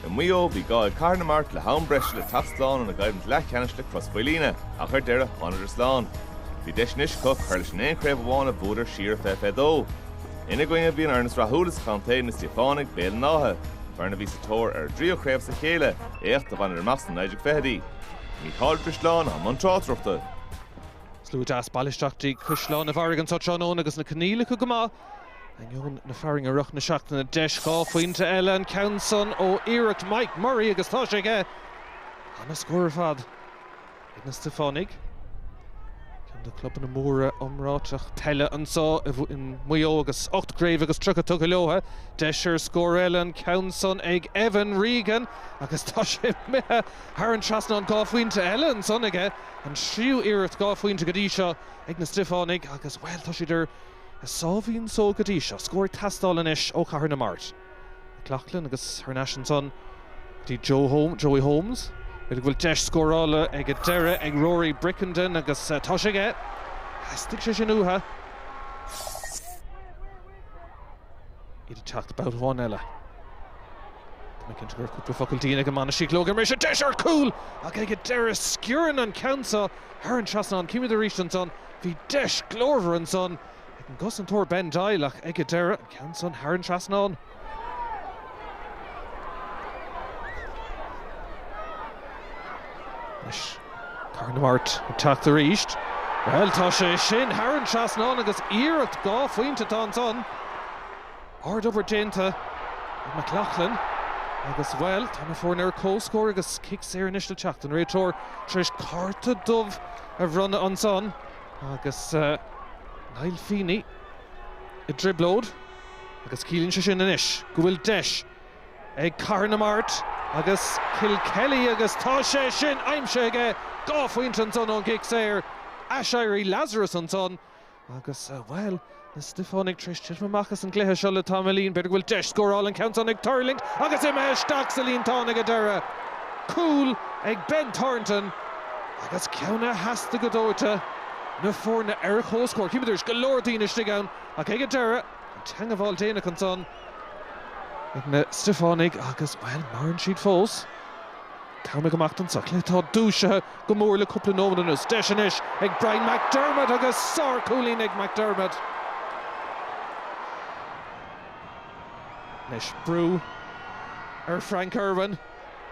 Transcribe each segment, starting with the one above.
I Maigh Eo, bhí gá ag Cathair na Mart le ham breise le teacht slán óna gcoimhlint leathcheannais le Crois Mhaoilíona, ach ar deireadh, tháingadar slán. Bhí deis anois acu cur leis an aon chraobh amháin a bhuadar siar i 2022. Ina gcoinne, bhí an fhoireann is rathúla sa chontae, na Stiofánaigh, Béal an Átha, foireann a bhí sa tóir ar a dtríú craobh as a chéile, éacht a bhaineadar amach sna 1920idí. Mícheál Ó Drisleáin, i mbun tráchtaireachta. Slua deas bailithe isteach go dtí Caisleán an Bharraigh anso tráthnóna agus na coinníollacha go maith. Ainneoin na fearthainne i rith na seachtaine, deis dhá phointe eile an ceann san ó iarracht Mike Murray agus tá sé aige. Ana scór ar fad ag na Stiofánaigh, ceann de clubanna móra iomráiteach peile anso i Maigh Eo agus ocht gcraobh agus tríocha tugtha leotha. Deis ar scór eile an ceann san ag Evan Regan agus tá sé imithe thar an trasnán. Dhá phointe eile ansan aige, an tríú iarracht dhá phointe go dtí seo ag na Stiofánaigh agus, bhuel, tá siad ar a sáimhín só go dtí seo, scór ag teastáil anois ó Chathair na Mart, McLaughlin agus thar n-ais ansan go dtí Joey Holmes, b'fhéidir go bhfuil deis scórála ag an deireadh ag Rory Brickenden agus tá sé aige, theastaigh sé sin uathu, iad ag teacht babhta amháin eile. Tá mé cinnte go raibh cúpla focal dian ag an mbainistíocht leo ag an mbriseadh, deis ar chúl ach ag an deireadh sciorrann an ceann seo thar an trasnán, címid arís ansan, Bhí deis glórmhar ansan ag an gcosantóir Ben Doyle ach ag an deireadh, an ceann san thar an trasnán. Anois Cathair na Mart ag teacht arís. Bhuel, tá sé sin thar an trasnán agus iarracht dhá phointe atá ansan. Ard obair déanta ag McLaughlin agus, bhuel, tá na foirne ar comhscór agus cic saor anois le teacht an réiteoir tar éis cárta dubh. a bhronnadh ansan agus Niall Feeney i dtrioblóid agus ciallaíonn sé sin anois go bhfuil deis ag Cathair na Mart agus Kilkelly agus tá sé sin aimsithe aige, dhá phointe ansan ón gcic saor, aiséirí Lazarus ansan. Agus, bhuel, na Stiofánaigh tar éis titim amach as an gcluiche seo le tamaillín. B'fhéidir go bhfuil deis scórála an ceann san ag tuirlingt agus imithe isteach sa líontán ag an deireadh. Cúl ag Ben Thornton agus ceann a theastaigh go dóite, na foirne ar comhscór. Címid arís go leor daoine istigh ann ach ag an deireadh, an teangabháil déanach ansan ag na Stiofánaigh agus, bhuel, maireann siad fós. Cabhraigh amach dom sa chluiche atá dúisithe. go mór le cúpla nóiméad anuas. Deis anois ag Brian McDermott agus sárchúilín ag McDermott. Anois brú ar Frank Irwin.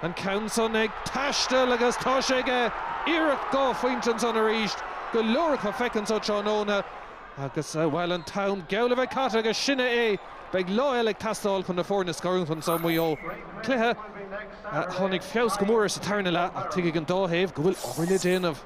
An ceann san ag taisteal agus tá sé aige! Iarracht dhá phointe ansan arís. Go leor acu feicthe anso tráthnóna agus, bhuel, an t-am geall a bheith caite agus sin é é. Beidh lá eile ag teastáil chun na foirne a scarúint anso i Maigh Eo. Cluiche. Tháinig feabhas go mór sa tarna leath ach tuigfidh an dá thaobh go bhfuil obair le déanamh.